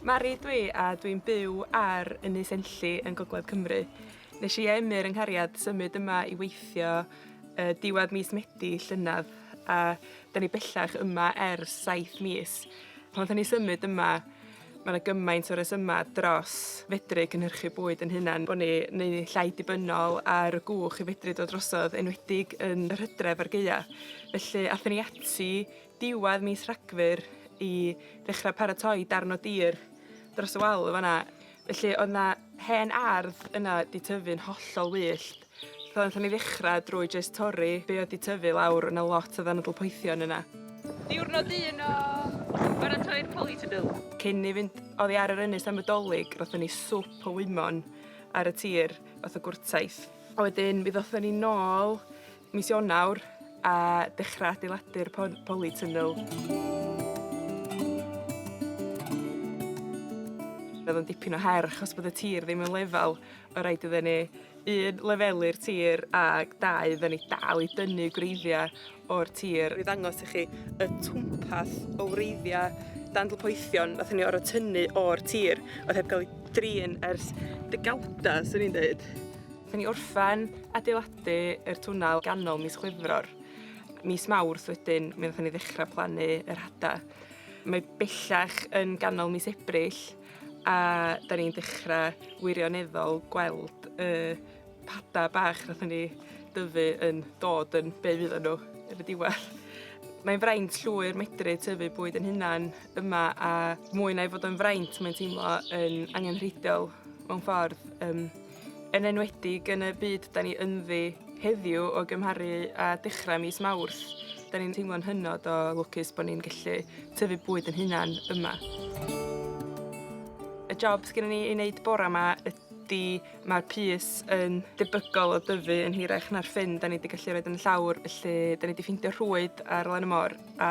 Mari ydw i a dwi'n byw ar Ynys Enlli yn Gogledd Cymru. Nes i a Emyr yng nghariad symud yma i weithio uh, diwedd mis Medi llynedd a da ni bellach yma ers 7 mis. Pan da ni symud yma mae yna gymaint o yma dros fedru cynhyrchu bwyd yn hunan bod ni neu llai dibynnol ar y gwch i fedru dod drosodd enwedig yn yr hydref ar gaeau. Felly athyn ni ati diwedd mis Rhagfyr i ddechrau paratoi darn o dir dros y wal yn fanna. Felly oedd 'na hen ardd yna 'di tyfu'n hollol wyllt. So nathon ni ddechra drwy jyst torri be' oedd 'di tyfu lawr, o' 'na lot o ddanadl poethion yna. Diwrnod un o baratoi'r polytunnel. Cyn ni fynd oddi ar yr ynys am y 'Dolig rothon ni swp o wymon ar y tir fath o gwrtaith. A wedyn mi ddothon ni nôl Mis Ionawr a dechrau adeiladu'r poli tunnel. Roedd o'n dipyn o her achos bod y tir ddim yn lefel, o rhaid iddyn ni un lefelu'r tir a dau iddyn ni dal i dynnu gwreiddiau o'r tir. Rwy'n ddangos i chi y twmpath o wreiddiau dandl poethion nath ni orfod tynnu o'r tir oedd heb gael ei drin ers degawda, swn i'n dweud. Wnaethon ni orffen adeiladu yr twnnel ganol mis Chwefror. Mis Mawrth wedyn, mi wnaethon ni ddechrau plannu yr hada. Mae bellach yn ganol mis Ebrill a da ni'n dechrau wirioneddol gweld y hada bach wnaethon ni dyfu yn dod yn be' fyddan nhw yn y diwedd. Mae'n fraint llwyr medru tyfu bwyd yn hunan yma a mwy na ei fod o'n fraint mae'n teimlo yn angenrheidiol mewn ffordd. Yym. yn enwedig yn y byd 'dan ni ynddi heddiw o gymharu â dechra mis Mawrth 'dan ni'n teimlo'n hynod o lwcus bo' ni'n gallu tyfu bwyd 'yn hunan yma. Y job sgennon ni i neud bora 'ma ydi ma'r pys yn debygol o dyfu yn hirach na'r ffyn 'dan ni 'di gallu roid yn y llawr felly 'dan ni 'di ffindio rhwyd ar lan y môr a